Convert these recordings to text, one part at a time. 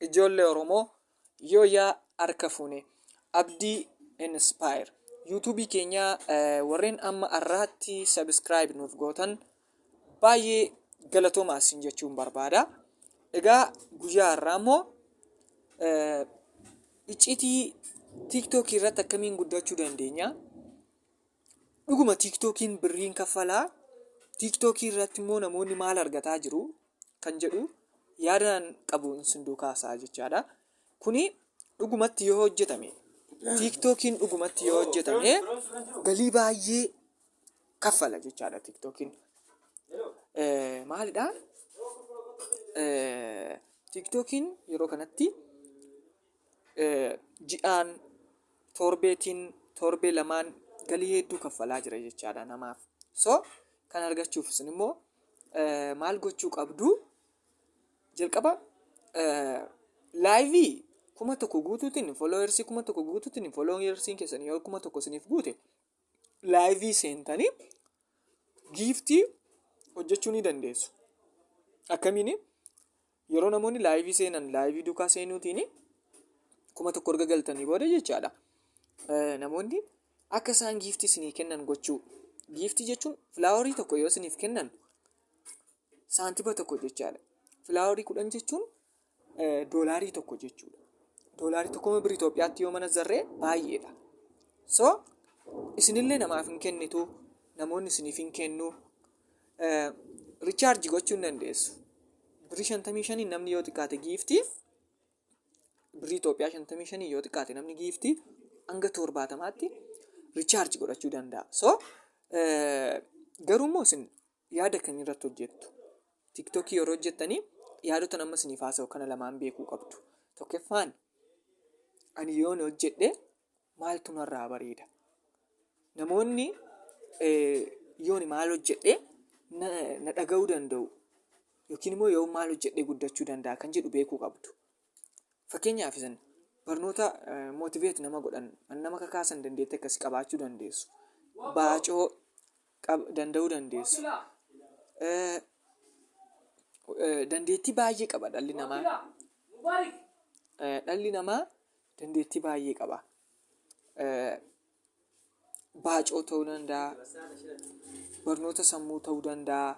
Ijoollee Oromoo yoo yaa harka fuune abdii inspire yuutuubii keenyaa eh, warreen amma arraatti sabiskiraayib nuuf gootan baay'ee galatoomaa isin jechuun barbaada. Egaa guyyaa har'aa immoo eh, iccitii tiiktookii irratti akkamiin guddachuu dandeenya? Dhuguma tiiktookiin birriin kaffalaa? Tiiktookii irratti immoo namoonni maal argataa jiru? Kan jedhu yaadaan qabu isin duukaa haasa'aa jechaadha. Kuni dhugumatti yoo hojjetame tiiktookiin dhugumatti yoo hojjetame galii baay'ee kaffala jechaadha tiiktookiin. Maalidhaa? Tiiktookiin yeroo kanatti ji'aan, torbeetiin, torbee lamaan galii hedduu kaffalaa jira jechaadha namaaf. So kan argachuuf isin immoo maal gochuu qabdu? Jalqaba laayivii kuma tokko guutuutiin fooloowersii kuma tokko guutuutiin fooloowersiin keessan yoo kuma tokko isiniif guute laayivii seentanii giiftii hojjechuu ni dandeessu. Akkamiin yeroo namoonni laayivii seenan laayivii duukaa seenuutiin kuma tokko erga galtanii booda jechaadha. Namoonni akka isaan giiftii isinii kennan gochuu. Giiftii jechuun filaawarii tokko yoo isiniif kennan saantiba tokko jechaadha. Filaawarii kudhan jechuun doolaarii tokko jechuudha. Doolaarii tokko birrii Itoophiyaatti yoo manazzarree baay'eedha. So isinillee namaaf hin kennitu namoonni isiniif hin kennu. Richaarji gochuu hin dandeessu. Birrii shantamii shaniin namni yoo xiqqaate giiftii birrii Itoophiyaa shantamii shaniin yoo xiqqaate namni giiftii hanga torbaatamaatti richaarji godhachuu danda'a. So garuu immoo isin yaada kan irratti hojjettu tiktokii yeroo hojjettanii yaadotan amma isiniif haasa'u kana lamaan beekuu qabdu tokkeffaan ani yoon hojjedhe maaltu narraa bareeda namoonni eh, yooni maal hojjedhe na na dhaga'uu danda'u yookiin immoo yoo maal hojjedhe guddachuu danda'a kan jedhu beekuu qabdu Fakkeenyaaf isin barnoota motivate nama godhan nama kakaasan dandeetti akkasi qabaachuu dandeessu. Baacoo danda'uu dandeessu. Dandeettii baay'ee qaba dhalli namaa. Dhalli namaa dandeettii baay'ee qaba. Baacoo ta'uu danda'a. Barnoota sammuu ta'uu danda'a.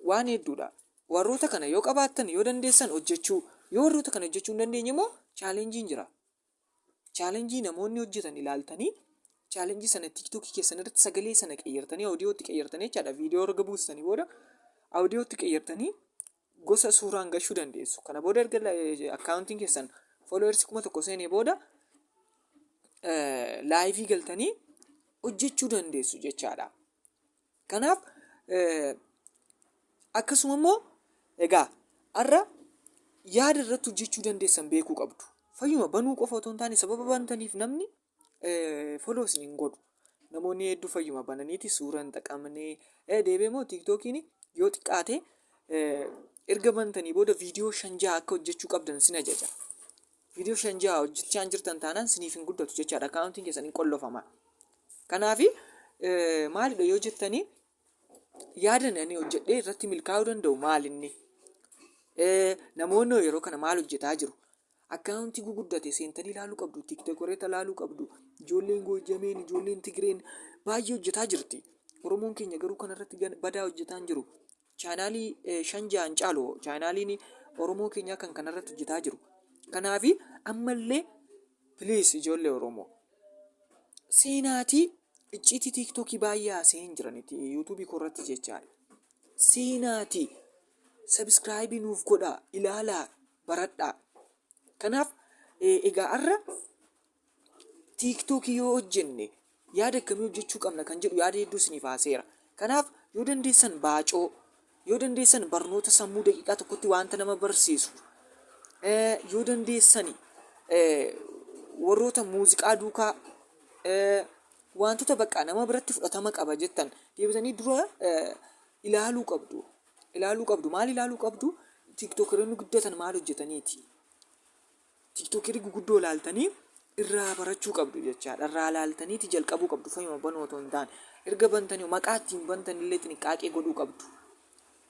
Waan hedduudha. Warroota kana yoo qabaattan, yoo dandeessan hojjechuu, yoo warroota kana hojjechuu hin dandeenye immoo challenge jira. Challenge namoonni hojjetan ilaaltanii challenge sana TikTok keessan irratti sagalee sana qeyyartanii audio itti qeyyartanii jechaadha. Video erga buustanii booda audio itti qeyyartanii gosa suuraan gashuu dandeessu. Kana booda erga akkaawuntiin keessan followers kuma tokko seenee booda laayivii galtanii hojjechuu dandeessu jechaadha. Kanaaf akkasuma immoo egaa har'a yaada irratti hojjechuu dandeessan beekuu qabdu. Fayyuma banuu qofa otoo hin taane sababa bantaniif namni foloo isin hin godhu. Namoonni hedduu fayyuma bananiiti suura hin xaqamne. Deebee immoo tiiktookiin yoo xiqqaate erga bantanii booda viidiyoo shan jaha akka hojjechuu qabdan isin ajaja. Viidiyoo shan jaha hojjechaa hin jirtan taanaan siniif hin guddatu jechaadha. Akkaawuntiin keessan hin qollofama. Kanaaf maalidha yoo jettanii yaadan ani hojjedhee irratti milkaa'uu danda'u maalinni? Namoonni hoo yeroo kana maal hojjetaa jiru? Akkaawuntii guguddate seentanii ilaaluu qabdu, tiiktokoreeta ilaaluu qabdu, ijoolleen goojjameen, ijoolleen tigireen baay'ee hojjetaa jirti. Oromoon keenya garuu kanarratti badaa hojjetaa hin jiru. Chaanaalii shan ja'an caalu chaanaaliin Oromoo keenyaa kan kanarratti hojjetaa jiru. Kanaafi ammallee please ijoollee Oromoo seenaatii icciitii tiiktookii baay'ee haasa'ee hin jiraniti yuutuubii koorratti jechaadha. Seenaatii sabiskiraayibii nuuf godhaa ilaalaa baradhaa. Kanaaf egaa har'a tiiktookii yoo hojjenne yaada akkamii hojjechuu qabna kan jedhu yaada hedduu isiniif haaseera. Kanaaf yoo dandeessan baacoo, yoo dandeessan barnoota sammuu daqiiqaa tokkotti wanta nama barsiisu, eh, yoo dandeessan eh, warroota muuziqaa duukaa eh, wantoota bakka nama biratti fudhatama qaba jettan deebitanii dura eh, ilaaluu qabdu. Ilaaluu qabdu. Maal ilaaluu qabdu? Tiiktookironni guddatan maal hojjetaniiti? Tiktokeri guguddoo ilaaltanii irraa barachuu qabdu jechaadha. Irraa ilaaltaniiti jalqabuu qabdu fayyuma banuu otoo hin taane. Erga bantanii maqaa ittiin bantan illee xinqaaqee godhuu qabdu.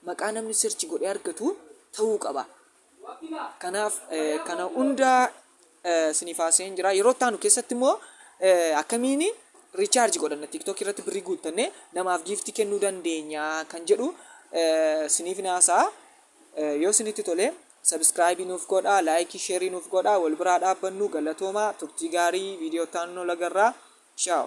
Maqaa namni sirchi godhee argatu ta'uu qaba. Kanaaf kana hundaa isiniif haasa'een jira. Yeroo itti aanu keessatti immoo akkamiin riichaarji godhanna tiktok irratti birrii guuttannee namaaf giiftii kennuu dandeenya kan jedhu isiniif haasa'a. Yoo isinitti tolee Subscribe nuuf godhaa like share nuuf godhaa wal biraa dhaabbannuu galatoomaa turtii gaarii video itti aanuun wal agarraa ciao.